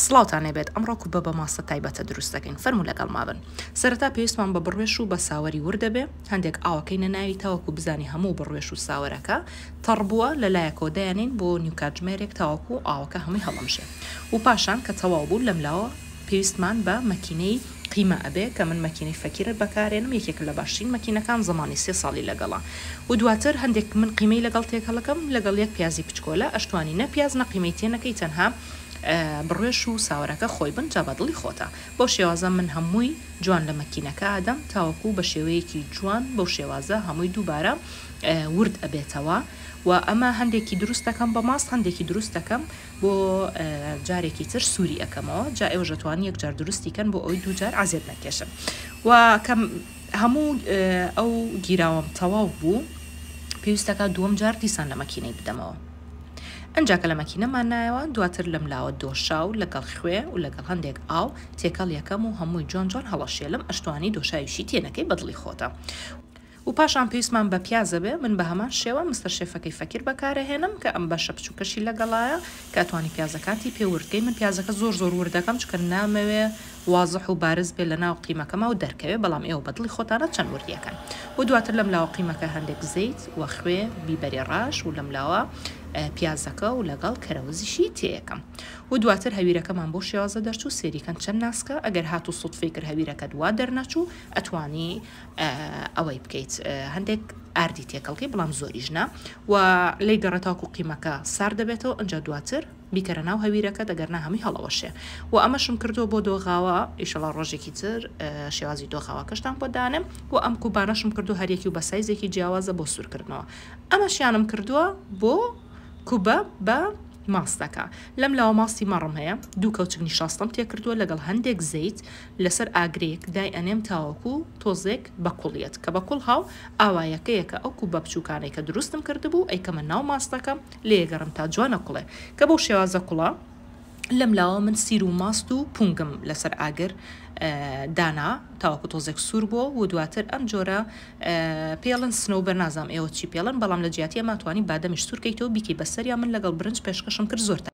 سڵاوتان لێبێت ئەمڕۆ کوبە بە ماستە تایبەتە دروست دەکەین فەرموو لەگەڵما بن سەرەتا پێویستمان بە بڕوێش و بە ساوەری ورد دەبێ هەندێک ئاوەکەینە ناوی تاوەکو بزانی هەموو بڕوێش و ساوەرەکە تەڕ بووە لە لایەکەوە دایەنین بۆ نیو کاتژمێرێک تاوەکو ئاوەکە هەمووی هەڵەمژێ و پاشان کە تەواو بوو لەم لاوە پێویستمان بە مەکینەی قیمە ئەبێ کە من مەکینەی فەکیرت بەکارێنم یەکێکە لە باشترین مەکینەکان زەمانی سێ ساڵی لەگەڵە و دواتر هەندێک من قیمەی لەگەڵ تێکەڵەکەم لەگەڵ یەک پیازی پچکۆلە ئەشتوانی نە پیاز نە قیمەی تێ نەکەی تەنها بڕێش و ساوەرەکە خۆی بن جا بە دڵی خۆتە بەو شێوازە من هەمووی جوان لە مەکینەکە ئەدەم تاوەکو بە شێوەیەکی جوان بەو شێوازە هەمووی دووبارە ورد ئەبێتەوە و ئەمە هەندێکی دروست دەکەم بە ماست هەندێکی دروست دەکەم بۆ جارێکی تر سوری ئەکەمەوە جا ئێوە ژەتوان یەک جار دروستی کەن بۆ ئەوی دوو جار عزێت نەکێشن و کەم هەموو ئەو گیراوەم تەواو بوو پێویستەکە دووەم جار دیسان لە مەکینەی بدەمەوە ئەجا کە لە مەکینەمان نایەوە دواتر لەم لاوە دۆشاو لەگەڵ خوێ و لەگەڵ هەندێک ئاو تێکەڵ یەکەم و هەمووی جوان جوان هەڵەشێلم ئەشتوانی دۆشاویشی تێنەکەی بەدڵی خۆتە و پاشان پێویستمان بە پیاز ئەبێ من بە هەمان شێوە مستەر شێفەکەی فەکیر بەکار ئەهێنم کە ئەم بەشە بچووکەشی لەگەڵایە کە ئەتوانی پیازەکانتی پێ ورد کەی من پیازەکە زۆر زۆر ورد دەکەم چونکە نامەوێ وازح و بارز بێ لەناو قیمەکەما و دەرکەوێ بەڵام ئێوە بە دڵی خۆتانە چەند وردی ئەکەن و دواتر لەم لاوە قیمەکە هەندێک زەیت و خوێ بیبەری ڕاش و لەم لاوە پیازەکە و لەگەڵ کەرەوزیشی تێ ئەکەم و دواتر هەویرەکەمان بۆ شێوازە دەرچوو سێری کەن چەند ناسکە ئەگەر هاتوو سوتفەی کرد هەویرەکەت وا دەرنەچوو ئەتوانی ئەوەی بکەیت هەندێک ئاردی تێکەڵکەی بڵام زۆریش نا و لی گەڕێت تاکو قیمەکە سار دەبێتەوە ئەجا دواتر بیکەرە ناو هەویرەکە دەگەرنا هەمووی هەڵەوەشێ و ئەمەشم کردو بۆ دۆغاوە ئیشەڵا ڕۆژێکی تر شێوازی دۆغاوەکەشتان بۆ دانم و ئەم کوبانەشم کردو هەریەکی و بە سایزێکی جیاوازە بۆ سوورکردنەوە ئەمەشیانم کردووە بۆ کوبە بە ماستەکە لەم لاوە ماستی مەڕم هەیە دوو کەوچک نیشاستم تێکردووە لەگەڵ هەندێک زەیت لەسەر ئاگرێک دای ئەنێم تاوەکو تۆزێک بەکوڵ یەت کە بەکوڵ هاو ئاوایەکەیەکە ئەو کوبە بچوکانەی کە دروستم کردبوو ئەیکەمە ناو ماستەکەم لێیەگەڕم تا جوانە کوڵێ کە بەو شێوازە کوڵە لەم لاوە من سیر و ماست و پونگم لەسەر ئاگر دانا تاوەکو تۆزێک سوور بۆ و دواتر ئەم جۆرە پێڵن سنەوبەر نازام ئێوە چی پێڵن بەڵام لە جیاتی ئەماتوانی بادەمیش سوورکەیتەوە بیکەی بەسەریا من لەگەڵ برنج پێشکەشم کرد زۆر